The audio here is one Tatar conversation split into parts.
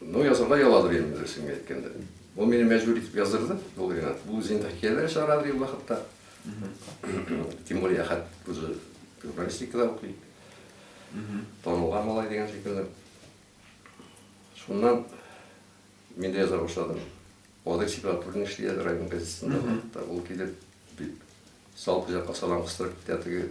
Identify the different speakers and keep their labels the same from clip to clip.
Speaker 1: Ну, язырга яладыр инде, дөресен генә әйткәндә. Ул мине мәҗбүр итеп яздырды, ул Ринат. Бу үзенең хикәяләре чыгарадыр ул вакытта. Тем более Әхәт үзе журналистикада укый. Танылган малай дигән шикелле. Шуннан мин дә яза башладым. Владимир Сепратуллин эшли еді район газетасында. Ол келіп, салып жаққа салам қыстырып кітәтігі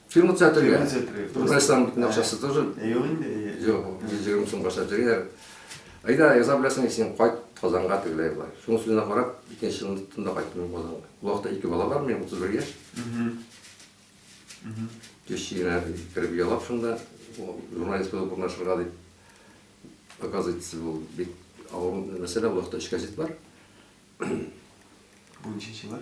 Speaker 2: Фирма театрия.
Speaker 1: Фирма театрия. Татарстан битен акчасы тоже. Юк инде.
Speaker 2: Юк, җирем соң
Speaker 1: баша җиргә. Айда яза беләсең, син кайт Казанга тегеләй була. Шуның сүзенә карап, икенче елны тында кайттым Казанга. Вакытта ике бала бар минем, 31 яшь. Кешегенә кереп ялап шунда, журналист булып урнашырга дип. Оказывается, был бик авыр мәсьәлә, вакытта өч газет бар.
Speaker 2: Бу ниченче еллар?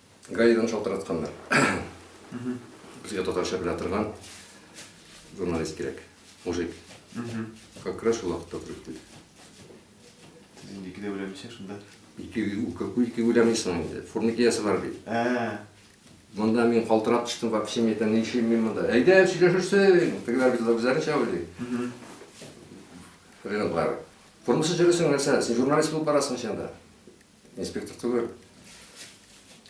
Speaker 1: Гаидан шалтыратканнар. Безгә татарча белә торган журналист кирәк. Мужик. Как раз шул вакытта күреп килде.
Speaker 2: Сез инде икедә үләмисез шунда.
Speaker 1: Ике ике үләмисең инде. Фурникиясе бар бит. Ә. Монда мин калтырап төштем, вообще мин әйтәм, ни эшлим мин монда? Әйдә, сөйләшерсең. Тегеләр бит үзләренчә уйлый. Хрен бар. Формасы җөресең нәрсә? Син журналист булып барасың син анда. Инспектор түгел.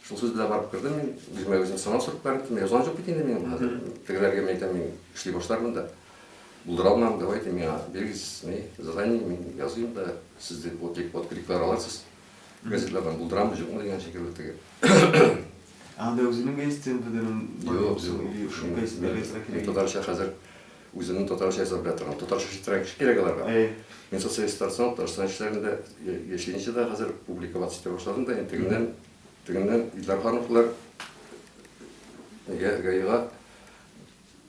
Speaker 1: Шул сүз белән барып кердем мин, үземә үзем сынау сорып барып киттем. Язган җок бит инде мин хәзер. Тегеләргә мин әйтәм, мин эшли башлармын да. Булдыра алмам, давай дим, миңа бирегез, не, задание, мин языйм да, сез дип вот дип вот кликлар аласыз. Газетлардан булдырамы, җокмы дигән шикелле теге. Анда
Speaker 2: үзенең гәзитен бетерем. Юк, юк. Шул гәзит бирегез.
Speaker 1: Мин татарча хәзер Үземнең татарча яза белә торам. Татарча читрәк эш кирәк аларга. Мин социалисттан соң Татарстан эшләрендә яшәенчә дә хәзер публиковаться итә башладым да, тегеннән, тегеннән Илдар Хановлар нигә ГАИга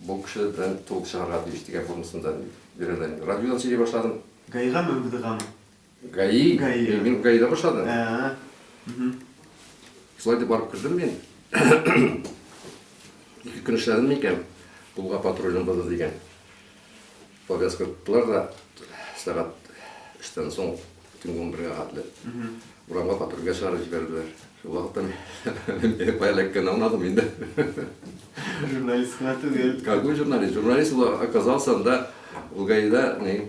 Speaker 1: бу кеше белән толк чыгарга тиеш дигән формасында бирәләр. Радиодан сөйли башладым. ГАИга Мәүгиль
Speaker 2: Ганов Гаи? Гаи.
Speaker 1: Э, мин гаида башладым. Ә. Шулай дип барып кердем мин. Ике көн эшләдем микән? Кулга патрульның базы дигән. Повязка кылдылар да сәгать эштән соң төнге он бергә хәтле. Урамга патрульгә чыгарып җибәрделәр. Шул вакытта мин байлыкка намадым инде.
Speaker 2: Журналист кына түгел. Какой журналист? Журналист
Speaker 1: оказался анда Лугаида, не,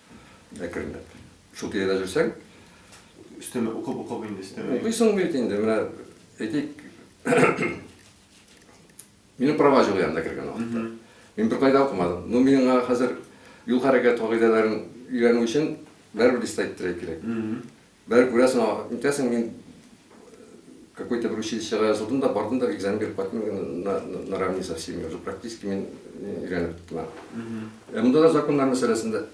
Speaker 1: Әкренләп. Шул тирәдә жүрсәң, өстәмә
Speaker 2: укып-укып инде өстәмә. Укыйсың бит инде, менә
Speaker 1: әйтик, минем права юк янында кергән вакытта. Мин бер кайда укымадым. Ну, миңа хәзер юл хәрәкәт кагыйдәләрен өйрәнү өчен бәрбер дистә иттерә кирәк. Бер күрәсең, вакыт үтәсең, мин какой-то бер училищега язылдым да, бардым да, экзамен биреп кайттым, на, наравне со всеми, уже практически мин өйрәнеп киттем. Ә монда да законнар мәсьәләсендә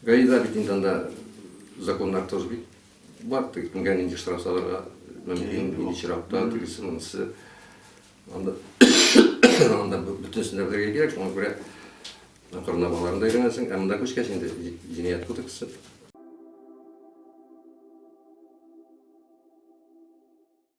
Speaker 1: гаида бит инде анда законнар тоже бит бар, теге кемгә нинди штраф салырга мөмкин, нинди чиратта, тегесе, монысы. Анда, анда бөтенесен дә белергә кирәк, шуңа күрә Акрынлап аларны да өйрәнәсең. Ә монда күчкәч инде Җинаять кодексы.